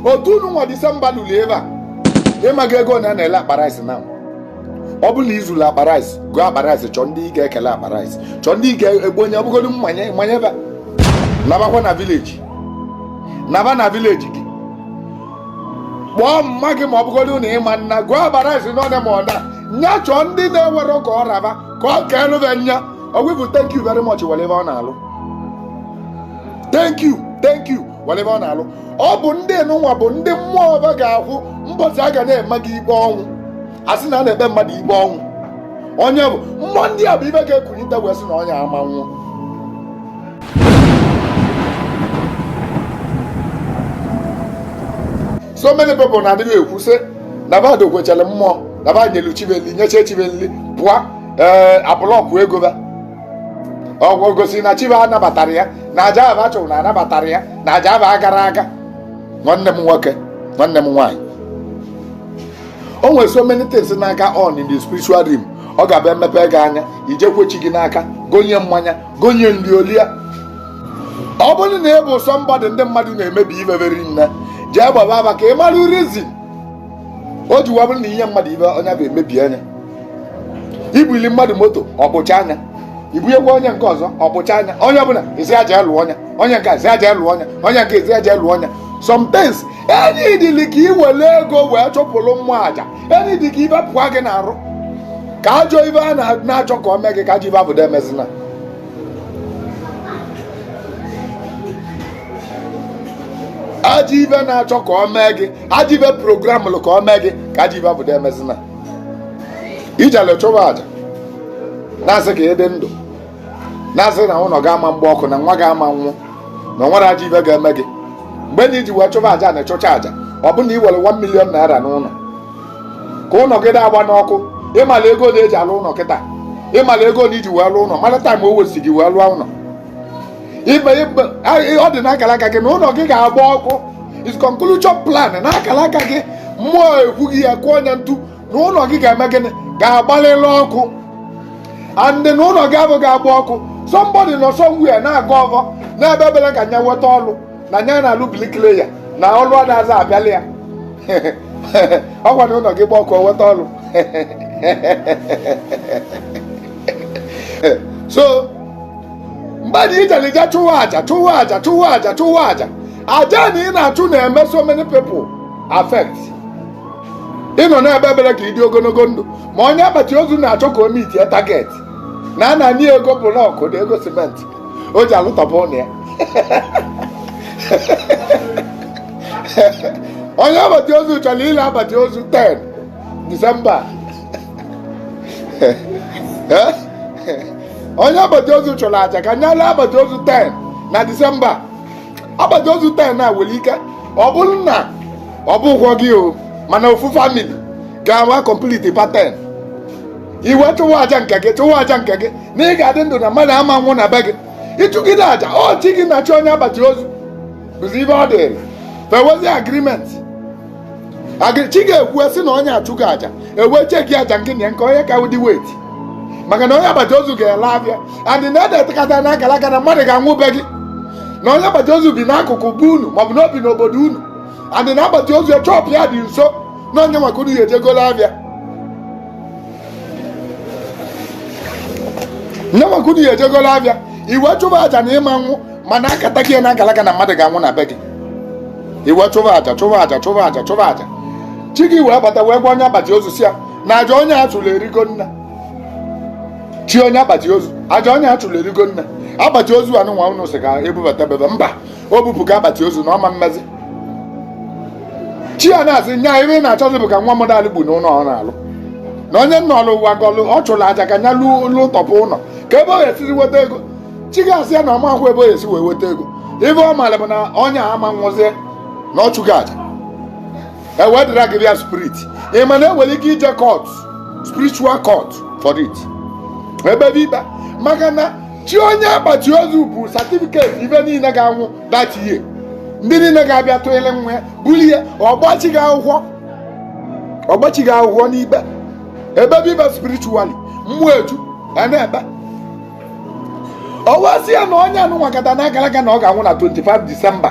otu nụnwa disemba luru ebe a ị mala ego a na-ele akpa rice na ọ bụrụ na ị zụrụ akpa rice goo akpa rice chọọ ndị ị ga-ekele akpa rice chọọ ndị ị ga-ebunye ọ bụgodu mmanye mmanye ebe nabakwa na vileji naba na vileji gị kpọọ mama gị ma ọ bụgodu na ị ma-ana goo akpa rice n'ọnya ma ọda nya chọọ ndị na-enwerọ ka ọ ra ba ka o keelu ba nya ọgwụbụ thank you very much whatever ọ na-alụ thank you thank you whatever ọ na-alụ ọ bụ ndị nụnwa bụ ndị mmụọ ọ ba ga-akwụ mbọchị a ga na-eme gị ikpe ọnwụ a sị na a na-ekpe mmadụ ikpe ọnwụ onye bụ mmụọ ndị a bụ ibe ga-ekulite wee sị na onye a ma-anwụ so many people na-adịghị ekwu sị na ba dokwechara mmụọ na ba nyelu chi ba nli nyecha chi ba nli pụọ ee eh, a bụlọkụ ego ba ọ gosi na chi ba anabatara ya na aja ba chụrụ na anabatara ya na aja ba agara aga nwanne m nwoke nwanne m nwaanyị o nwere so many things na-aga on in the spiritual realm ọ ga-abụ e mepe gị anya i jee kwe chi gị n'aka gonye mmanya gonye nri o lia ọ bụrụ na ị bụ sọmbọdụ ndị mmadụ na-emebi ife veri nne jee gbaba aba ka ị mara rizin o ji wee bụrụ na i nye mmadụ ibe onye abụ emebie nya i bunye mmadụ moto o gbuchaa nya i bunyekwa onye nke ọzọ o gbuchaa nya onye ọbụla ezi aja lụọ ọnya onye nke ezi aja lụọ ọnya onye nke ezi aja lụọ ọnya sometimes enyi dịlị ka i were ego wee chụpụrụ mmụọ aja enyi dị ka ibe pụọ gị n'arụ ka ajọ ibe a na-achọ ka o mee gị ka ajọ ibe abụ da emezina ajọ ibe na-achọ ka o mee gị ajọ ibe programụlụ ka o mee gị ka ajọ ibe abụ da emezina i jele chụwa aja na-asị ka ị dị ndụ na-asị na ụlọ gị ama-agba ọkụ na nwa gị ama-anwụ na o nwere ajọ ibe ga-eme gị mgbe na i ji wee chụba aja na ị chụcha aja ọ bụ na i were 1 million naira n'ụlọ ka ụlọ gị agbana ọkụ ị mala ego na e ji alụ ụlọ kịta ị mala ego na i ji wee lụọ ụlọ mara taim o wesi gị wee lụọ ụlọ ọ dị n'akara aka gị na ụlọ gị ga-agba ọkụ is conclusion plan n'akara aka gị mmụọ ekwugo ya kụọ nya ntu na ụlọ gị ga-eme gịnị ga-agbalịlị ọkụ and na ụlọ gị abụ ga-agba ọkụ somebody nọ somewhere na-agọ ọvọ na-ebe ebere ka nya nweta ọlụ na nya na-alụ brikleya na ọlụ adazi abịala ya ọ kwa na ụlọ gị gba ọkụ o nweta ọlụ so mmadụ ijelija chụwa aja chụwa aja chụwa aja chụwa aja aja na ị na-achụ na-eme so many people affect ị nọ na-ebe ebere ka ị dị ogologo ndụ ma onye akpati ozu na-achọ ka o mitie target na a na-enye ego bụlọkụ na ego simenti o ji alụtọpụ ụlọ ya onye akpati ozu chọrọ ile akpati ozu 10 disemba onye akpati ozu chụrụ aja ka nya lee akpati ozu 10 na disemba akpati ozu 10 a nwere ike ọ bụrụ na ọ bụrọkwọ gị o mana ofu family ga-anwụ complete ba 10 i wee chụwa aja nke gị chụwa aja nke gị na ị ga-adị ndụ na mmadụ ama nwụ na be gị ịchụgide aja ọ chi gị na chi onye akpati ozu bụzi ibe ọ dịrị fa enwezi agreement chi ga-ekwu sị na onye a achụgo aja e wee checkie aja nke na nke onye ka dị weight maka na onye akpati ozu ga-ele afịa adị na edeta kata n'akara aka na mmadụ ga-anwụ be gị na onye akpati ozu bi n'akụkụ be unu maọbụ na o bi n'obodo unu adị na akpati ozu shop ya dị nso na ọ nya nwa ka unu ya-eje golo afịa nya nwa ka unu ya-eje golo afịa i wee chụba aja na ị ma nwụ mana a kata gị n'akala aka na mmadụ ga-anwụ na be gị i wee chụba aja chụba aja chụba aja chụba aja chi gị wee bata wee gwa onye akpati ozu sị ya na aja onye a chụrụ erigo nne chi onye akpati ozu aja onye a chụrụ erigo nne akpati ozu anụnwa unu sị ga-ebubata bebe mba o bupụga akpati ozu na ọ ma mmezi chi ya na-asị nya ife ị na-achọzi bụ ka nwa mmadụ alụ gbu n'ụlọ ọ na-alụ na onye nna ọlụ ụwa gọlụ ọ chụrụ aja ka nya lụọ ụlọ tọpụ ụlọ ka ebe ọ ga-esizi weta ego chi ga-asị ya na ọ marọkwọ ebe ọ ga-esi wee weta ego ife ọ maara bụ na onye a ama nwụzie na ọ chụgo aja e wee dịra gị bịa spirit ị ma na e nwere ike ije court spiritual court for it e kpebe ikpe maka na chi onye akpati ozu ebu certificate ife niile ga-anwụ that year ndị niile ga-abịa tụnyere nwa ya buru ihe ọ gbaa chi gị akwụkwọ ọ gbaa chi gị akwụkwọ n'ikpe e kpebe ikpe spiritually mmụọ eju a na-ekpe ọ wee sị ya na onye anụnwa kata n'akara aka na ọ ga-anwụ na 25 disemba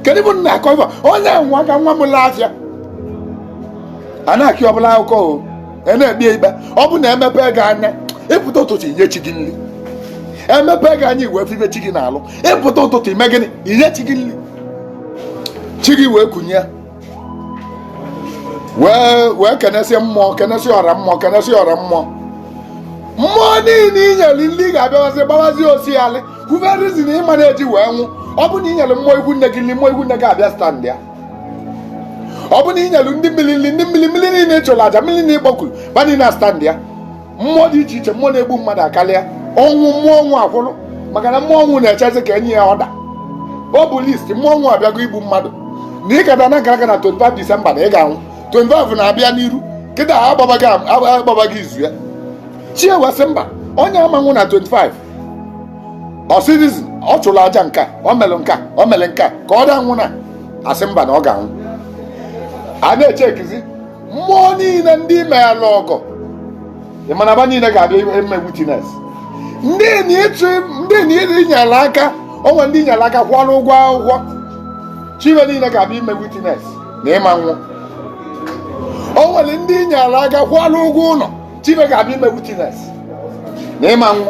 kedu bụ nna akọ ife onye a nwụọ ka nwa m lee afịa a na-akọ ọbụla akụkọ o a na-ekpe ya ikpe ọ bụ na emepe gị anya ịpụta ụtụtụ inye chi gị nri emepe gị anya i wee febe chi gị n'alụ ịpụta ụtụtụ ime gịnị inye chi gị nri chi gị wee kunie wee wee kenesie mmụọ kenesie ọra mmụọ kenesie ọra mmụọ mmụọ niile inyere nri ga-abịawazi gbawazi osialị kwuberezi na ị ma na-eji wee nwụ ọ bụ na inyere mmụọ ikwu nne gị nri mmụọ ikwu nne gị abịa stand ya ọ bụ na i nyelu ndị mmiri nri ndị mmiri mmiri niile ị chụrụ aja mmiri niile ị kpọkuru ba niile na stand ya mmụọ dị iche iche mmụọ na-egbu mmadụ akarịa ọnwụ mmụọ ọnwụ akwụrụ maka na mmụọ ọnwụ na-echezi ka e nye ya order o bu list mmụọ ọnwụ abịago igbu mmadụ na ị kata n'akara aka na 25 disemba na ị ga-anwụ 25 na-abịa n'iru kịta a gbaba gị izu ya chi ewee sị mba onye a ama nwụ na 25 ọ sịrịzi ọ chụrụ aja nka ọ mere nka ọ mere nka ka ọ da anwụ na asị mba na ọ ga-anwụ a na-echekizi mmụọ niile ndị i meela ọgọ ị ma na ba niile ga-abịa eme witness ndị enyi ịchụ ndị enyi ịdị nyere aka o nwee ndị i nyere aka kwụọrọ ụgwọ akwụkwọ chi we niile ga-abịa ime witness na ị ma anwụ o nwere ndị i nyere aka kwụọrọ ụgwọ ụlọ chi we ga-abịa ime witness na ị ma anwụ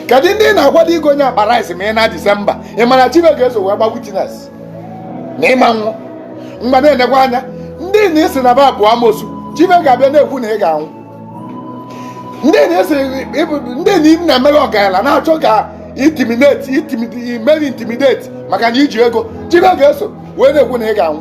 kedu ndị ị na-akwado igonye akpa rice ma ị na Disemba ị ma na chi we ga-eso wee gba witness na ị ma anwụ mgbe na-enekwa anya ndị ị na-asị na ba bụ amosu chi we ga-abịa na-ekwu na ị ga-anwụ ndị na ị na-emere ọgaranya na-achọ ka intimidate imeri intimidate maka na i ji ego chi we ga-eso wee na-ekwu na ị ga-anwụ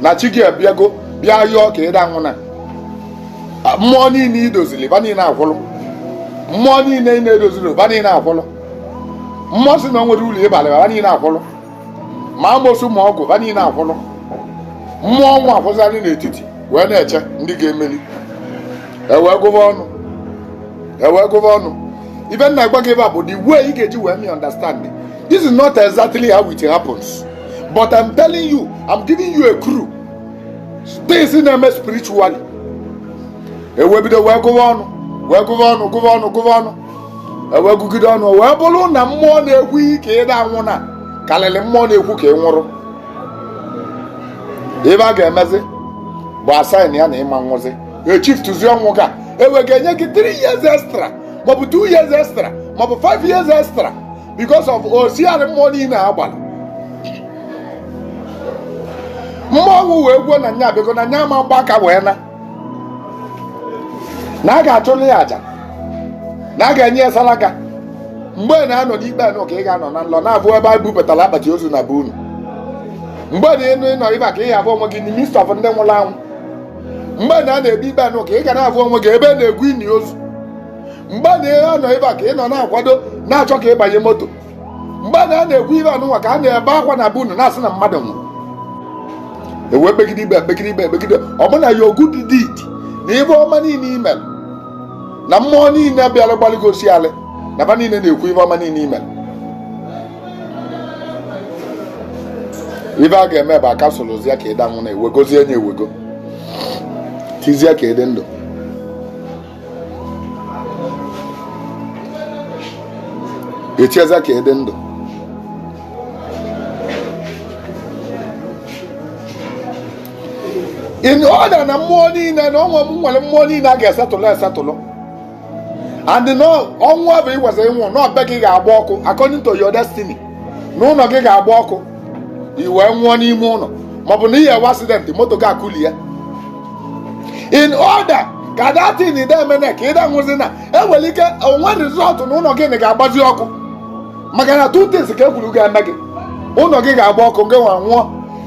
na chi gị abịago bịa yọọ ka ị da anwụ na mmụọ niile i dozili ba niile akwụlụ mmụọ niile ị na-edozili ba niile akwụlụ mmụọ si na o nwere ụlọ ịbalị ba niile akwụlụ ma amosu ma ọgwụ ba niile akwụlụ mmụọ ọnwụ akwụzarị n'etiti wee na-eche ndị ga-emeli e wee gụba ọnụ e wee gụba ọnụ ibe m na-agwa gị ebe a bụ the way ị ga-eji wee mee understand This is not exactly how it happens. But I'm telling you, I'm giving you a clue. Things na-eme spiritually. E wee bido wee gụwa ọnụ, wee gụwa ọnụ, gụwa ọnụ, gụwa ọnụ. E wee gụgide ọnụ, wee bụrụ na mmụọ na-ekwu ka ị da anwụ na karịrị mmụọ na-ekwu ka ị nwụrụ. Ibe a ga-emezi bụ a sign ya na ị ma anwụzi. E shiftuzie ọnwụ ka e wee ga-enye gị 3 years extra maọbụ 2 years extra maọbụ 5 years extra because of osiarị mmụọ niile a gbara mmụọ ọnwụ wee kwuo na nya abịago na nya ma mgba aka wee naa na a ga-achụrụ ya aja na a ga-enye ya salaka mgbe a na-anọ n'ikpe anụ ka ị ga-anọ na nlọ na-abụ ebe a bupụtara akpati ozu na be unu mgbe a na-anọ ebe a ka ị ga-abụ onwe gị na midst of ndị nwụrụ anwụ mgbe na a na-ebi ikpe anụ ka ị ga na-abụ onwe gị ebe a na-egwu ini ozu mgbe a na-anọ ebe a ka ị nọ na-akwado na-achọ ka ịbanye moto mgbe a na-ekwu ibe anụnwa ka a na-ebe akwa na be unu na-asị na mmadụ nwụrụ e wee kpegide ikpe kpegide ikpe kpegide ọ bụ na your good deed na ibe ọma niile i melụ na mmụọ niile bịara gbalị gị osialị na ba niile na-ekwu ibe ọma niile i melụ ibe a ga-eme bụ a cancelzie ya ka ị da anwụ na ewegozie nye ewego tizie ka ị dị ndụ echiezi ka ị dị ndụ in order na mmụọ niile na ọnwa m nwere mmụọ niile a ga-esetụlụ esetụlụ and ọnwụ ahụ i kwesi ịnwụ na ọ be gị ga-agba ọkụ according to your destiny na ụlọ gị ga-agba ọkụ i wee nwụọ n'ime ụlọ maọbụ na ị ga-enwe accident moto gị akụli ya in order ka that thing ide emene ka ịda nwụzi na enwere ike o wee result na ụlọ gị ga-agbazi ọkụ maka na two things ka e kwuru ga-eme gị ụlọ gị ga-agba ọkụ gị nwa nwụọ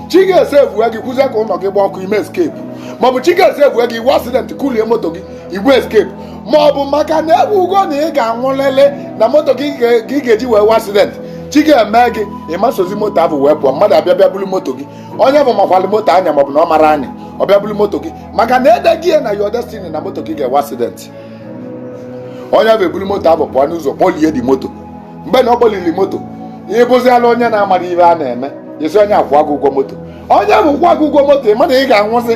chi ga-esevue gị kwuzie ka ụlọ gị gba ọkụ i wee escape maọbụ chi ga-esevue gị i nwee accident kulie moto gị i wee escape ma ọ bụ maka na e kwugo na ị ga-anwụlịlị na moto gị ị ga-eji wee nwee accident chi ga-eme gị ị ma esozi moto ahụ wee pụọ mmadụ abịa bịa buru moto gị onye ahụ makwalị moto anya maọbụ na ọ marọ anya ọ bịa buru moto gị maka na e dego ya na your destiny na moto gị ga-enwe accident onye ahụ eburu moto ahụ pụọ n'ụzọ kpọlie the moto mgbe na ọ kpọliri moto ị bụziala onye na-amarọ ihe a na-eme i sị onye a kwụọ gị ụgwọ moto onye ahụ kwụọ gị ụgwọ moto ị ma na ị ga-anwụzi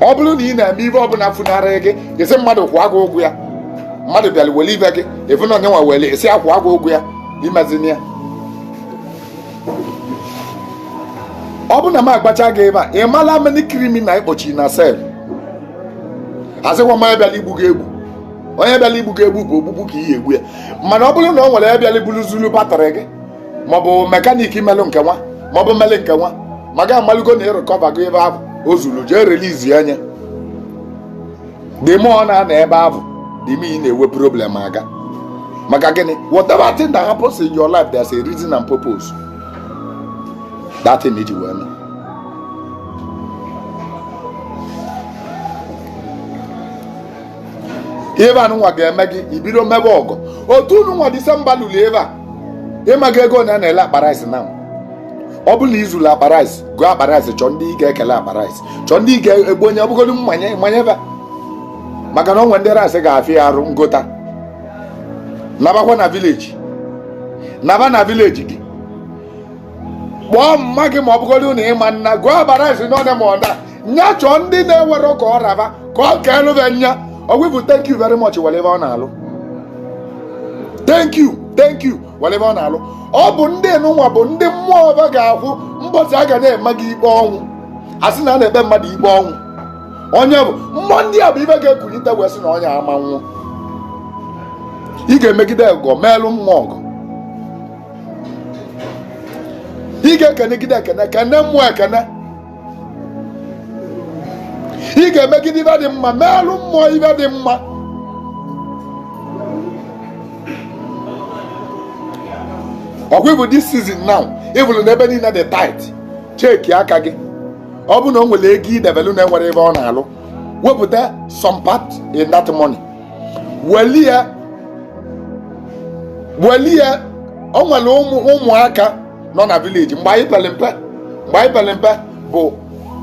ọ bụrụ na ị na-eme ihe ọbụla funarị gị i sị mmadụ kwụọ gị ụgwọ ya mmadụ bịara were ihe gị ihe ọbụna onye nwa were i sị ya kwụọ gị ụgwọ ya i mezina ya ọ bụrụ na m agwacha gị ihe a ị mala many criminal ị kpọchi na cell asịkwa m onye bịara igbu gị egbu onye bịara igbu gị egbu bụ ogbugbu ka ị ga-egbu ya mana ọ bụrụ na ọ nwere ihe ọ bịara iburu zuru batrị gị maọbụ mechanic melụ nke nwa maọbụ mele nke nwa ma gị amalugo na ị rikọvago ihe ahụ o zuru jee release ya nye dị mụ ọ na-ana ebe ahụ dị m ị na-enwe problem again maka gịnị whatever thing that happens in your life there's a reason and purpose that thing ji wee mee ihe a nụnwa ga-eme gị i bido mebe ọgọ otu nụnwa December luru ebe a ị mago ego one a na-ele akpa rice na ọ bụrụ na i zuru akpa rice goo akpa rice chọọ ndị ị ga-ekele akpa rice chọọ ndị ị ga-ekponye ọ bụgodu mmanye manye ha maka na o nwe ndị rice ga-afịa ya arụ ngota nabakwa na village naba na village gị kpọọ mma gị ma ọ bụgodu na ị ma ana goo akpa rice n'ọdị ma ọ na nya chọọ ndị na-enwerọ ka ọ ra ha ka o keelụ ha nya okwu bụ thank you very much nwere ihe ọ na-alụ thank you thank you nwere ihe ọ na-alụ ọ bụ ndị nụnwa bụ ndị mmụọ ha ga-akwụ mbọchị a ga na-eme gị ikpe ọnwụ a sị na a na-ekpe mmadụ ikpe ọnwụ onye ahụ mmụọ ndị a bụ ihe ga-ekulite wee sị na onye a ama anwụ ị ga-emegide ọgọ meelụ mmụọ ọgọ ị ga-ekenegide ekene kene mmụọ ekene ị ga-emegide ive dị mma meelụ mmụọ ive dị mma ọkwa bụ this season now ị vụlụ na ebe niile dị tight cheki aka gị ọ bụ na o nwere ego i debelu na-enwerọ ive ọ na-alụ wepụta some part in that money welie welie o nwere ụmụaka nọ na village mgbe anyị pere mpe mgbe anyị pere mpe bụ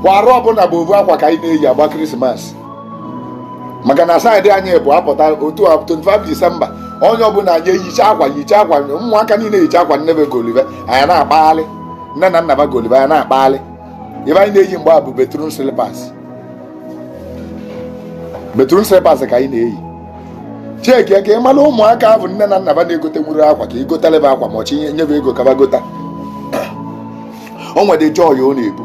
bụ arọ ọbụla bụ ovu akwa ka anyị na-eyi agba krismas maka na side anyị bụ apụta otu a 25 disemba onye ọbụla anyị eyicha akwa yicha akwa ụmụaka niile yicha akwa nne be goli ve anyị na-akpagharị nne na nna ba goli ve anyị na-akpagharị ive anyị na-eyi mgbe a bụ bathroom slippers bathroom slippers ka anyị na-eyi chekie ka ị mara ụmụaka ahụ nne na nna ba na-egotenwurọ akwa ka ị gotara ba akwa ma ọchị i nye be ego ka ba gota o nwere joy ọ na-ebu